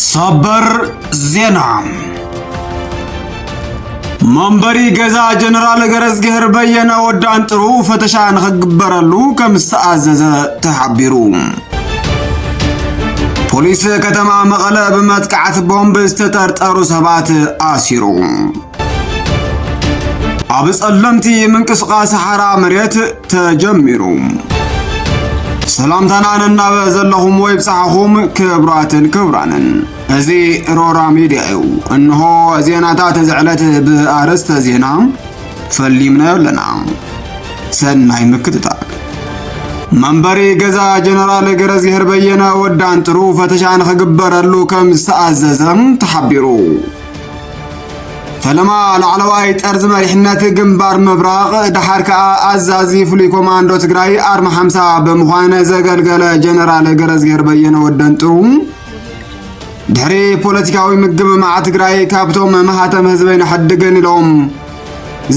ሰበር ዜና መንበሪ ገዛ ጀነራል ገረዝግሄር በየነ ወዲ ኣንጥሩ ፈተሻ ንኽግበረሉ ከም ዝተኣዘዘ ተሓቢሩ። ፖሊስ ከተማ መቐለ ብመጥቃዕቲ ቦምብ ዝተጠርጠሩ ሰባት ኣሲሩ። ኣብ ጸለምቲ ምንቅስቓስ ሓራ መሬት ተጀሚሩ። ሰላምታና ነናበ ዘለኹም ወይ ብጻሕኹም ክብራትን ክብራንን እዚ ሮራ ሚድያ እዩ። እንሆ ዜናታት እዚ ዕለት ብኣርእስተ ዜና ፈሊምናዮ ኣለና። ሰናይ ምክትታል። መንበሪ ገዛ ጀነራል ገረዝሄር በየነ ወዳንጥሩ ፈተሻ ንኽግበረሉ ከም ዝተኣዘዘ ተሓቢሩ። ፈለማ ላዕለዋይ ጠርዚ መሪሕነት ግንባር ምብራቕ ደሓር ከዓ ኣዛዚ ፍሉይ ኮማንዶ ትግራይ ኣርማ ሓምሳ ብምዃን ዘገልገለ ጀነራል ገረዝጌር በየነ ወደንጡ ድሕሪ ፖለቲካዊ ምግምማዕ ትግራይ ካብቶም ማህተም ህዝበይ ንሐድግን ኢሎም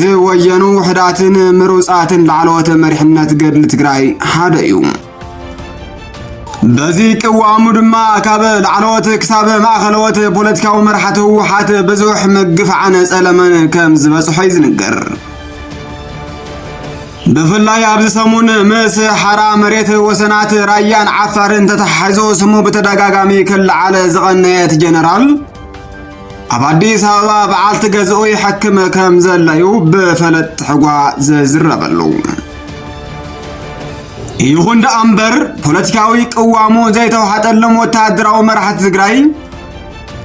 ዝወየኑ ውሕዳትን ምሩፃትን ላዕለዎት መሪሕነት ገድሊ ትግራይ ሓደ እዩ። በዚ ቅዋሙ ድማ ካብ ላዕለዎት ክሳብ ማእኸለዎት ፖለቲካዊ መራሕቲ ህወሓት ብዙሕ ምግፍዓን ጸለመን ከም ዝበጽሖ እዩ ዝንገር። ብፍላይ ኣብዚ ሰሙን ምስ ሓራ መሬት ወሰናት ራያን ዓፋርን ተተሓሒዞ ስሙ ብተደጋጋሚ ክለዓል ዝቐነየት ጀነራል ኣብ ኣዲስ ኣበባ በዓልቲ ገዝኡ ይሐክም ከም ዘለዩ ብፈለጥቲ ሕጓ ዝዝረበሉ ይኹን ደኣ እምበር ፖለቲካዊ ቅዋሙ ዘይተዋሕጠሎም ወተሃደራዊ መራሕቲ ትግራይ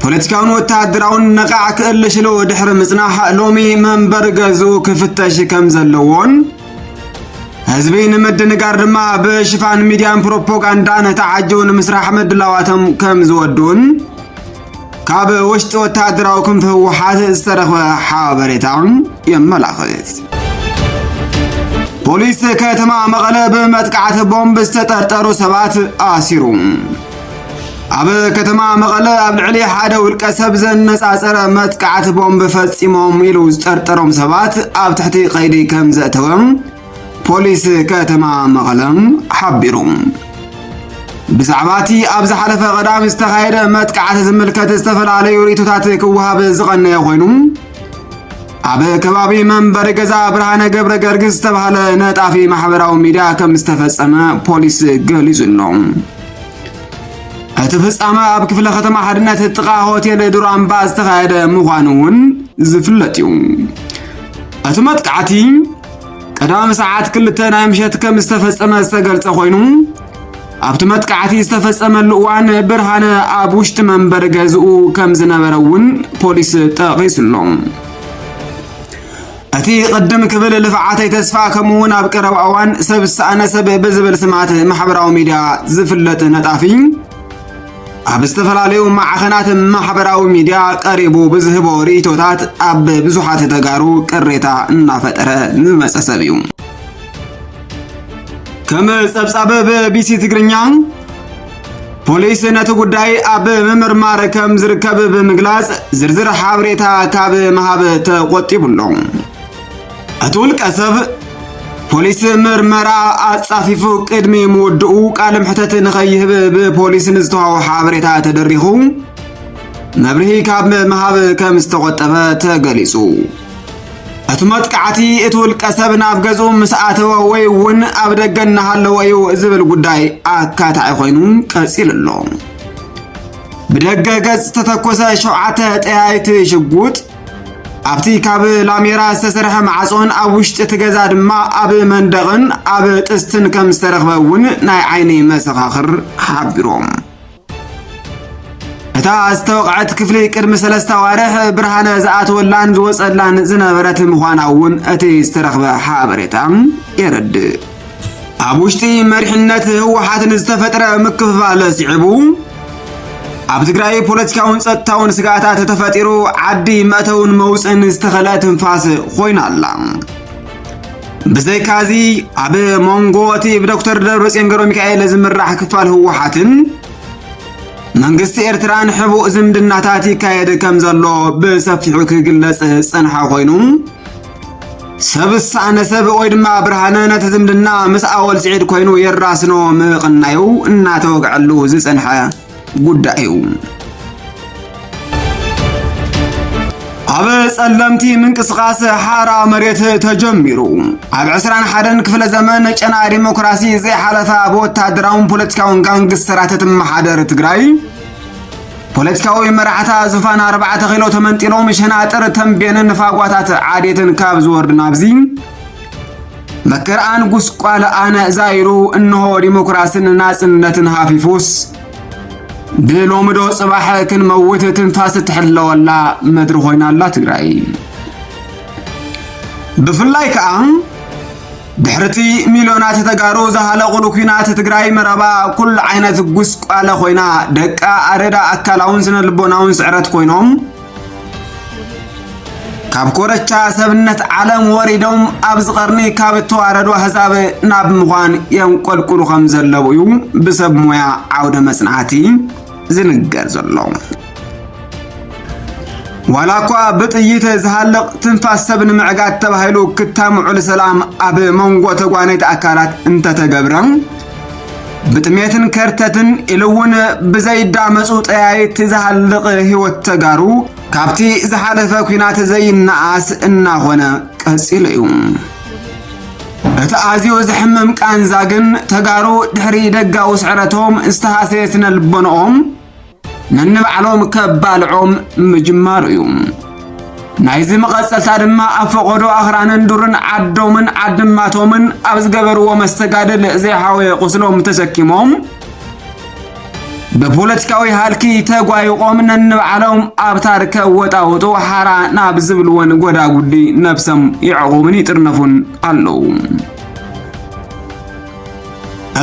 ፖለቲካውን ወተሃደራውን ነቓዕ ክእልሽሉ ድሕሪ ምጽናሕ ሎሚ መንበሪ ገዝኡ ክፍተሽ ከም ዘለዎን ህዝቢ ንምድንጋር ድማ ብሽፋን ሚድያን ፕሮፓጋንዳን ተዓጀው ንምስራሕ ምድላዋቶም ከም ዝወድኡን ካብ ውሽጢ ወተሃደራዊ ክንፊ ህወሓት ዝተረኽበ ሓበሬታ የመላኽት። ፖሊስ ከተማ መቐለ ብመጥቃዕቲ ቦምብ ዝተጠርጠሩ ሰባት ኣሲሩ። ኣብ ከተማ መቐለ ኣብ ልዕሊ ሓደ ውልቀ ሰብ ዘነጻጸረ መጥቃዕቲ ቦምብ ፈጺሞም ኢሉ ዝጠርጠሮም ሰባት ኣብ ትሕቲ ቀይዲ ከም ዘእተወ ፖሊስ ከተማ መቐለ ሓቢሩ። ብዛዕባ እቲ ኣብ ዝሓለፈ ቀዳም ዝተኻየደ መጥቃዕቲ ዝምልከት ዝተፈላለዩ ርእቶታት ክወሃብ ዝቐነየ ኮይኑ ኣብ ከባቢ መንበሪ ገዛ ብርሃነ ገብረ ገርግስ ዝተባሃለ ነጣፊ ማሕበራዊ ሚድያ ከም ዝተፈጸመ ፖሊስ ገሊጹ ኣሎ። እቲ ፍጻመ ኣብ ክፍለ ከተማ ሓድነት ጥቓ ሆቴል ዱራምባ ዝተኻየደ ምዃኑ እውን ዝፍለጥ እዩ። እቲ መጥቃዕቲ ቀዳሚ ሰዓት ክልተ ናይ ምሸት ከም ዝተፈጸመ ዝተገልጸ ኮይኑ ኣብቲ መጥቃዕቲ ዝተፈጸመሉ እዋን ብርሃነ ኣብ ውሽጢ መንበሪ ገዝኡ ከም ዝነበረ እውን ፖሊስ ጠቒሱ ኣሎ እቲ ቅድም ክብል ልፍዓተይ ተስፋ ከምኡ እውን ኣብ ቀረባ እዋን ሰብ ዝሰኣነ ሰብ ብዝብል ስማት ማሕበራዊ ሚድያ ዝፍለጥ ነጣፊ ኣብ ዝተፈላለዩ ማዕኸናት ማሕበራዊ ሚዲያ ቀሪቡ ብዝህቦ ርእይቶታት ኣብ ብዙሓት ተጋሩ ቅሬታ እናፈጠረ ዝመፀ ሰብ እዩ። ከም ጸብጻብ ቢቢሲ ትግርኛ ፖሊስ ነቲ ጉዳይ ኣብ ምምርማር ከም ዝርከብ ብምግላጽ ዝርዝር ሓበሬታ ካብ ምሃብ ተቖጢቡ ኣሎ። እቲ ውልቀ ሰብ ፖሊስ ምርመራ ኣጻፊፉ ቅድሚ ምውድኡ ቃለ መሕተት ንኸይህብ ብፖሊስ ንዝተዋወ ሓበሬታ ተደሪኹ መብርሂ ካብ ምሃብ ከም ዝተቖጠበ ተገሊጹ። እቲ መጥቃዕቲ እቲ ውልቀ ሰብ ናብ ገዝኡ ምስ ኣተወ ወይ እውን ኣብ ደገ እናሃለወ እዩ ዝብል ጉዳይ ኣካታዒ ኮይኑ ቀጺሉ ኣሎ። ብደገ ገጽ ዝተተኮሰ ሸውዓተ ጠያይቲ ሽጉጥ ኣብቲ ካብ ላሜራ ዝተሰርሐ ማዕጾን ኣብ ውሽጢ እቲ ገዛ ድማ ኣብ መንደቕን ኣብ ጥስትን ከም ዝተረኽበ እውን ናይ ዓይኒ መሰኻኽር ሓቢሮም እታ ዝተወቕዐት ክፍሊ ቅድሚ ሰለስተ ኣዋርሕ ብርሃነ ዝኣተወላን ዝወፀላን ዝነበረት ምዃና እውን እቲ ዝተረኽበ ሓበሬታ የረድእ ኣብ ውሽጢ መሪሕነት ህወሓት ንዝተፈጥረ ምክፍፋል ስዒቡ ኣብ ትግራይ ፖለቲካውን ጸጥታውን ስጋኣታት ተፈጢሩ ዓዲ መእተውን መውፅእን ዝተኸለ ትንፋስ ኮይና ኣላ ብዘይካዚ ኣብ መንጎ እቲ ብዶክተር ደብረፅዮን ገብረ ሚካኤል ዝምራሕ ክፋል ህወሓትን መንግስቲ ኤርትራን ሕቡእ ዝምድናታት ይካየድ ከም ዘሎ ብሰፊሑ ክግለጽ ዝጸንሐ ኮይኑ ሰብ ዝሰኣነ ሰብ ወይ ድማ ብርሃነ ነቲ ዝምድና ምስ ኣወል ስዒድ ኮይኑ የራስኖ ምቕናዩ እናተወግዐሉ ዝጸንሐ ጉዳይ እዩ። ኣብ ጸለምቲ ምንቅስቓስ ሓራ መሬት ተጀሚሩ ኣብ 21 ክፍለ ዘመን ጨና ዲሞክራሲ ዘይሓለፋ ብወታደራውን ፖለቲካውን ጋንግስተራት እትመሓደር ትግራይ ፖለቲካዊ መራሕታ ዝፋን ኣርባዕተ ኪሎ ተመንጢሎም ሸናጥር ተንቤንን ፋጓታት ዓዴትን ካብ ዝወርድ ናብዚ መከርኣን ጉስቋልኣን ዛይሩ እንሆ ዲሞክራስን ናጽነትን ሃፊፉስ ብሎምዶ ጽባሕ ክንመውት ትንፋስ እትሕለወላ ምድሪ ኮይናላ ትግራይ ብፍላይ ከዓ ድሕርቲ ሚልዮናት ተጋሩ ዝሃለቑሉ ኩናት ትግራይ መረባ ኩሉ ዓይነት ጉስቋለ ኮይና ደቃ ኣደዳ ኣካላውን ስነልቦናውን ስዕረት ኮይኖም ካብ ኮረቻ ሰብነት ዓለም ወሪዶም ኣብዚ ቐርኒ ካብ እተዋረዱ ኣህዛብ ናብ ምዃን የንቆልቁሉ ከም ዘለዉ እዩ ብሰብ ሞያ ዓውደ መጽናዕቲ ዝንገር ዘሎ። ዋላ እኳ ብጥይት ዝሃልቕ ትንፋስ ሰብ ንምዕጋት ተባሂሉ ክታም ውዕል ሰላም ኣብ መንጎ ተጓነይቲ ኣካላት እንተተገብረ ብጥሜትን ከርተትን ኢሉ እውን ብዘይዳመፁ ጠያይቲ ዝሃልቕ ህይወት ተጋሩ ካብቲ ዝሓለፈ ኩናት ዘይነኣስ እናኾነ ቀፂሉ እዩ። እቲ ኣዝዩ ዘሕምም ቃንዛ ግን ተጋሩ ድሕሪ ደጋዊ ስዕረቶም ዝተሃሰየ ስነ ልቦንኦም ነንባዕሎም ከባልዖም ምጅማሩ እዩ ናይዚ መቐጸልታ ድማ ኣብ ፈቐዶ ኣኽራንን ዱርን ዓዶምን ዓድማቶምን ኣብ ዝገበርዎ መስተጋድል ዘይሓወየ ቁስሎም ተሰኪሞም ብፖለቲካዊ ሃልኪ ተጓይቖም ነንባዕሎም ኣብ ታርከ ወጣወጡ ሓራ ናብ ዝብልዎን ጎዳጉዲ ነብሶም ይዕቑብን ይጥርነፉን ኣለዉ።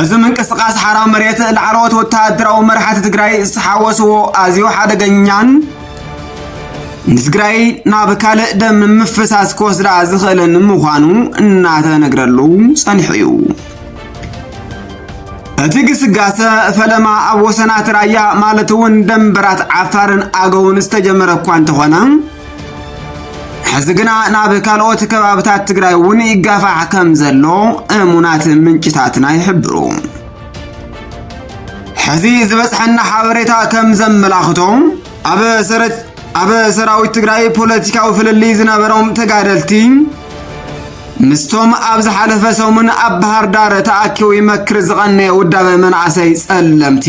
እዚ ምንቅስቓስ ሓራ መሬት ላዕለዎት ወተሃደራዊ መራሕቲ ትግራይ ዝተሓወስዎ ኣዝዩ ሓደገኛን ንትግራይ ናብ ካልእ ደም ንምፍሳስ ክወስዳ ዝኽእልን ምዃኑ እናተነግረሉ ጸኒሑ እዩ እቲ ግስጋሰ ፈለማ ኣብ ወሰናት ራያ ማለት እውን ደንበራት ዓፋርን ኣገውን ዝተጀመረ እኳ እንተኾነ ሕዚ ግና ናብ ካልኦት ከባብታት ትግራይ እውን ይጋፋሕ ከም ዘሎ እሙናት ምንጭታትና ይሕብሩ። ሕዚ ዝበፅሐና ሓበሬታ ከም ዘመላኽቶ ኣብ ሰረት ኣብ ሰራዊት ትግራይ ፖለቲካዊ ፍልልይ ዝነበሮም ተጋደልቲ ምስቶም ኣብ ዝሓለፈ ሰሙን ኣብ ባህር ዳር ተኣኪቡ ይመክር ዝቐነየ ውዳበ መናእሰይ ጸለምቲ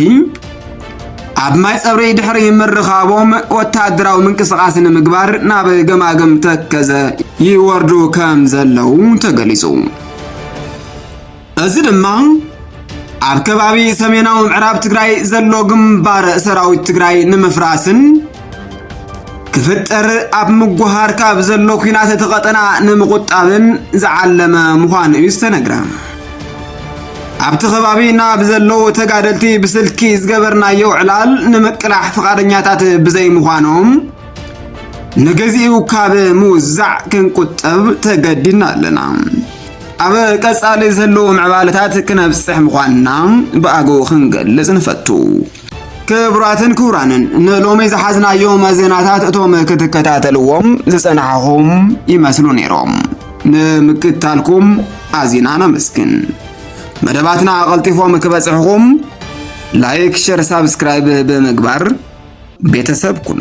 ኣብ ማይጸብሪ ድሕሪ ምርኻቦም ወታደራዊ ምንቅስቓስ ንምግባር ናብ ገማግም ተከዘ ይወርዱ ከም ዘለዉ ተገሊጹ። እዚ ድማ ኣብ ከባቢ ሰሜናዊ ምዕራብ ትግራይ ዘሎ ግንባር ሰራዊት ትግራይ ንምፍራስን ክፍጠር ኣብ ምጉሃር ካብ ዘሎ ኩናት እቲ ቀጠና ንምቁጣብን ዝዓለመ ምዃኑ እዩ ዝተነግረ። ኣብቲ ከባቢ ናብ ዘለዉ ተጋደልቲ ብስልኪ ዝገበርናዮ ዕላል ንምቅላሕ ፍቓደኛታት ብዘይምዃኖም ንግዚኡ ካብ ምውዛዕ ክንቁጠብ ተገዲና ኣለና። ኣብ ቀጻሊ ዘለዉ ምዕባለታት ክነብጽሕ ምዃንና ብኣገው ክንገልጽ ንፈቱ። ክቡራትን ክቡራንን ንሎሚ ዝሓዝናዮም ዜናታት እቶም ክትከታተልዎም ዝጸናሕኹም ይመስሉ ነይሮም። ንምክታልኩም ኣዚና ነመስግን። መደባትና ቀልጢፎም ክበጽሕኹም ላይክ፣ ሸር፣ ሳብስክራይብ ብምግባር ቤተሰብ ኩኑ።